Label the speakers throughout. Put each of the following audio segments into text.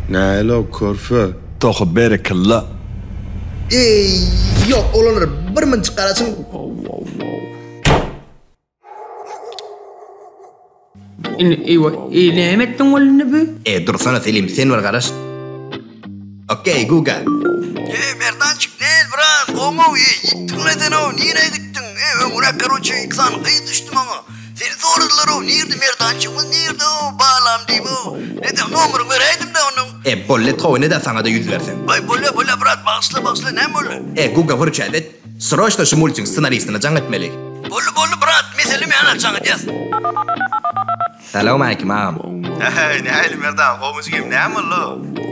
Speaker 1: Nähili o körfe? Tohy berekella. Eý ýok olanlar bir mnjik garaşyň. Eý näme etdiň boldy indi bu. Eý dursana Selim sen bir garaş. Okey Google. Eý Merdançyk nel brat gowmyw eý ýitdiňle senow nirä gitdiň eý öňüräk karoçe iki sany gyz düşdi maňa seni soradylarow nirde Merdançygymyz nirdeow balam diýibow nedeň nomeryňy beräýdimdä onuň. Eý bolýa towy neda saňada ýüz bersem. Aý bolýa bolýa brat bagyşla bagyşla näme boldy. Eý Google hür çäz et sroçno şu multigiň ssenaristine jaň etmeli. Boldy boldy brat meselem ýa-da jaň edýäs. Salawmaleýkim agam. Äheý nähili Merdan gowmy jigim näme bollo.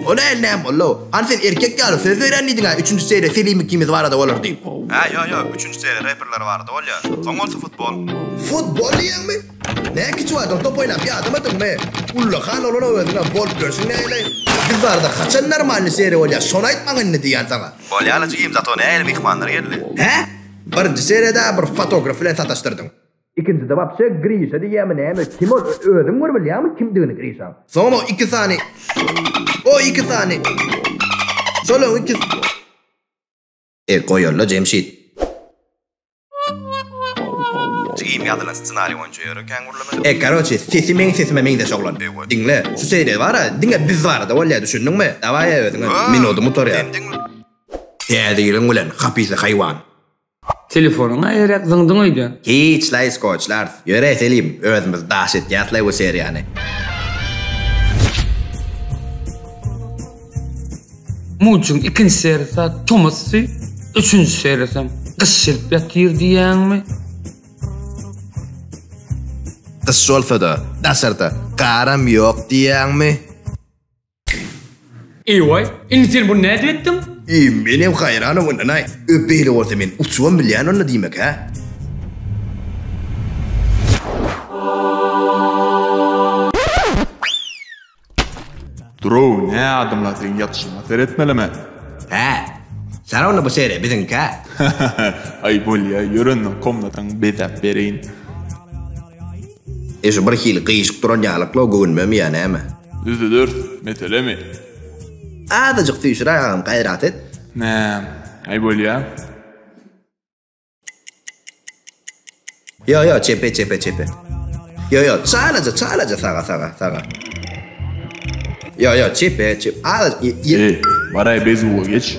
Speaker 1: O nähili näme bollo. Hany sen erkek ýaly söz berýän diýdiňä üçünji seria Selimi ikimiz barada bolar diýip. Hä ýok ýok üçünji seria reperler barada bolýa. Soň bolsa futbol. Futbol diýýäňmi? Nä kiçi wagtyň top oýnap ýadamadyňmy? Ullakan bolana özüňem bolup ýörsüň näleý. Biz barada haçan normalny seria bolýa şony aýt maňa indi diýýän saňa. Bolýala jigim zato nähili myhmanlar geldi. Hä? Birinji seriýada bir fotograf bilen sataşdyrdyň. Ikinjide wapşe Grişa diýýämi näme kim ol özüň bir bilýäňmi kimdigini Grişaň. Soňam o iki sany o iki sany şolaň iki. E goýalla Jemşit. Jigim ýazylan ssenari boýunça ýöre kän gürlemeli. E karoçe sesi meň sesime meňzeş oglan. Diňle şu seriýa bara diňe biz barada bolýa düşündiňmi dawaýa özüňe minudym gutarýa. Täze ýylyň bilen hapysa haýwan. Telefonyňa eýeräk zyňdyň öýde. Hiçlaý skoçlars. Ýöre Selim, özümiz daş etýäslaý bu seriýany. Muçigiň ikinji serisi tomusdy, üçünji serisem gyş gelip ýatyr diýýäňmi? Gyş bolsa-da, daşarda garam ýok diýýäňmi? Eý-waý, indi sen buny nädip etdiň? Eý, menem haýran owadan-aý. Öý, beýle bolsa men uçubam bilýän onda diýmek-hä? Duruw, nä adamlar seň ýatyşyňa seretmelimi? Hä? Sana onda bu sere, biziňkä? Aý, bolýa, ýör onda komnataňy bezäp bereýin. Eje bir hili gyýşyk duran ýalyklygy göwünmemi ýa näme? Düzüders, meselemi? Azajyk süýşüräý agam gaýrat et. Näm? Aý bolýa. Ýo ýo çepe çepe çepe. Ýo ýo çalaja çalaja saga saga saga. Ýo ýo çepe çep. Aý. Ýe. Baray bezuwa geç.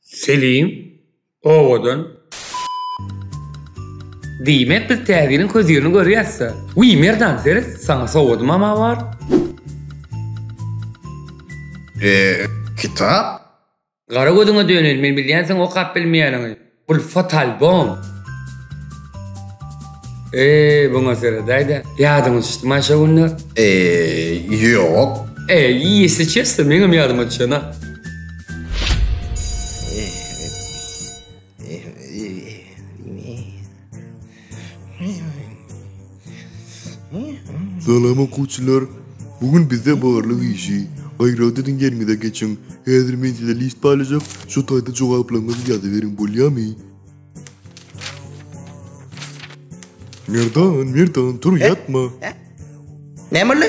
Speaker 1: Selim, owadan. Diýmek biz täzeliň közirini görýäsda. Wiý Merdan Feris saňa sowadymam a bar. Eee kitap? Gara gözüňe döneýin men bilýän seň okap bilmeýäniňi. Bul fotalbom. Eee buňa seredäýdä. Ýadyňa düşdüma şo günler? Eee ýok. Eee ýesi çesli meňem ýadyma düşenok. Salam okuwçylar. Bu gün bizde barlyk işi. Gaýraty diň ýeriňize geçiň. Häzir men size list paýlaşjak. Şu taýda jogaplaryňyzy ýazyberiň bolýamy? Merdan, Merdan, tur ýatma. Näme boldy?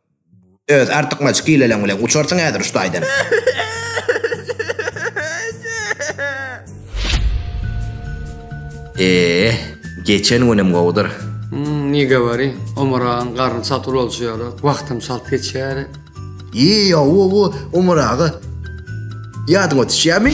Speaker 1: Öz artykmaç hileleň bilen uçarsyň häzir şu taýdan. Eee, geçen günem gowudyr. Hmm, ne govori, Omar ağan garny çalt ulalçy ýaly, wagtam çalt geçýär. Eee, ýa, wo, wo, Omar aga. Ýadyňa düşýärmi?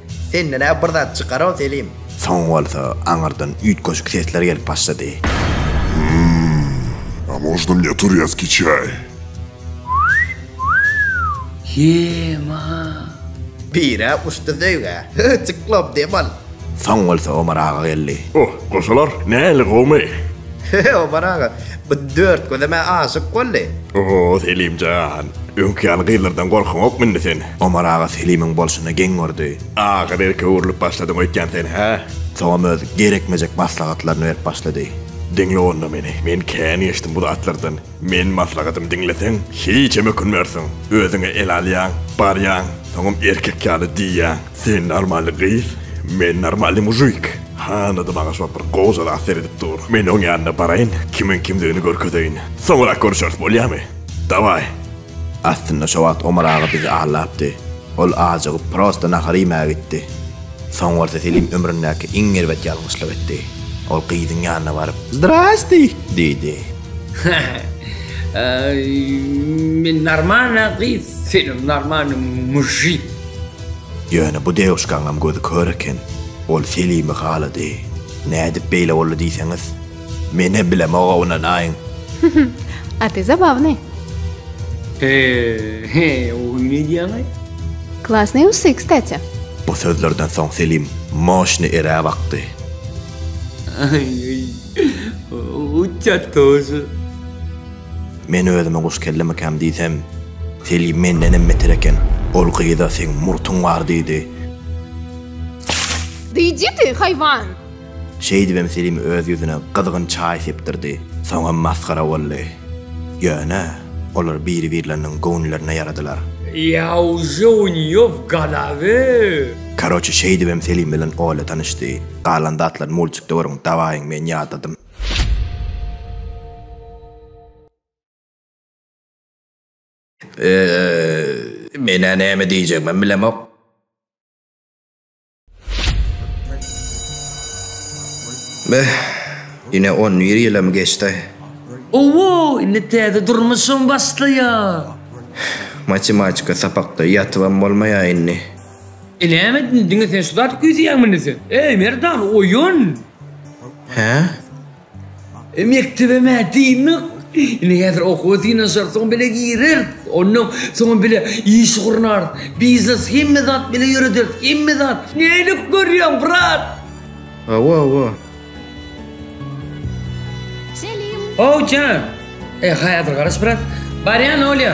Speaker 1: Senden-ä bir zat çykar-ow, Selim! Soň bolsa aňyrdan üýtgeşik sesler gelip başlady. Hum, a można mne turýaskiý çaý? Ýe-ma! Pire uçdy söýgä. Hö, çyklop dem al! Soň bolsa Omar aga geldi. Oh, goşalar, nähili gowumy? Hö, Omar aga, bu Dörtgözem-ä aşyk boldy. Oh, Selim jan, öňki ýaly gyzlardan gorkyňokmy indi sen? Omar aga Selimiň bolşuna geň gördi. Aga berk öwrülip başladyň öýtýän sen, hä? Soňam öz gerekmejek maslahatlaryny berip başlady. Diňle onda meni, men kän geçdim bu zatlardan. Meniň maslahatymy diňleseň, hiçem ökünmersiň. Özüňe el alýaň, barýaň, soňam erkek ýaly diýýäň, Sen normalny gyz, men normalny mujik. Hanada maňa şol bir gojala seredip dur. Men oň ýanyna baraýyn, kimiň kimdigini görkezeýin. Soňurak görüşeris, bolýamy? Dawaý! Aslynda şo wagt Omar aga bizi aldapdy. Ol ajygyp prosta nahar iýmäge gitdi. Soň bolsa Selim ömründäki iň erbet ýalňyşlyk etdi. Ol gyzyň ýanyna baryp, Zdrasti! diýdi. Haý, men normalna gyz, senem normalny mujik. Ýöne bu dewuşkaňam gözi kör eken. Ol Selimi halady. Nädip beýle boldy diýseňiz? Menem bilemoga ynanaýyň. Hyhyh. Gaty zabawnyý. He, he, o gün edýäňaý. Klasnyý ussy, kstati. Bu sözlerden soň Selim moşny erä bakdy. Aý-aý. Uçýar tozy. Men özüme guş kellemikäm diýsem, Selim mendenem beter eken. Ol gyza seň murtuň bar diýdi. Diýjidi, haýwan! Şeýdibem Selim öz ýüzüne gyzgyn çaý sepdirdi. Soňam masgara boldy. Ýöne, olar biri-birleriniň göwünlerine ýaradylar. Ýa uje u nýe w golawy. Karoçe şeýdibem Selim bilen Olya tanyşdy. Galan zatlaryny multikde görüň, dawaýyň men ýadadym. Eee, men-ä näme diýjegimem bilemok. Beh, ine on bir ýylam geçdi. Owo, indi täze durmuşym başlaýar. Matematika sapakda ýatybam bolmaýar indi. Näme diňe sen şu zady küýseýäňmi indi sen? Eý, Merdan, oýun! Hä? E mekdebem-ä dyndyk. Indi häzir okuwa synanyşarys-oňa bile gireris. Ondan soň-a bile iş gurnarys. Biznes hemme zat bile ýörederis. Hemme zat. Nälik görýäň, brat? Hawa, hawa. How jan! E, häzir garaş, brat. Barýan, Olýa.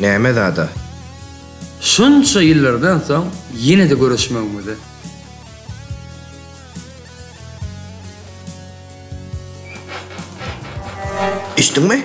Speaker 1: Näme zada? Şunça ýyllardan soň ýene-de görüşmegimize. Içdiňmi?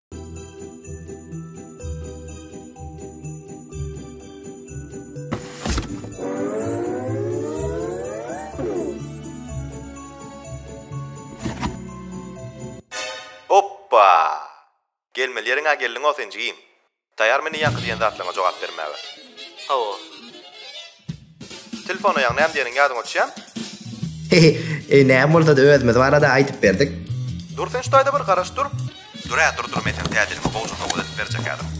Speaker 1: Gelmeli ýeriň-ä geldiň-ow sen jigim. Taýarmy indi ýaňky diýen zatlaryňa jogap bermäge? Hawa. Telefona ýaň näme diýeniň ýadyňa düşýämi? Hehe, eý näme bolsada özümiz barada aýdyp berdik. Dur sen şu taýda bir garaş dur. Dur-ä dur dur men seni täjirime gowja sowgat edip berjek häzir.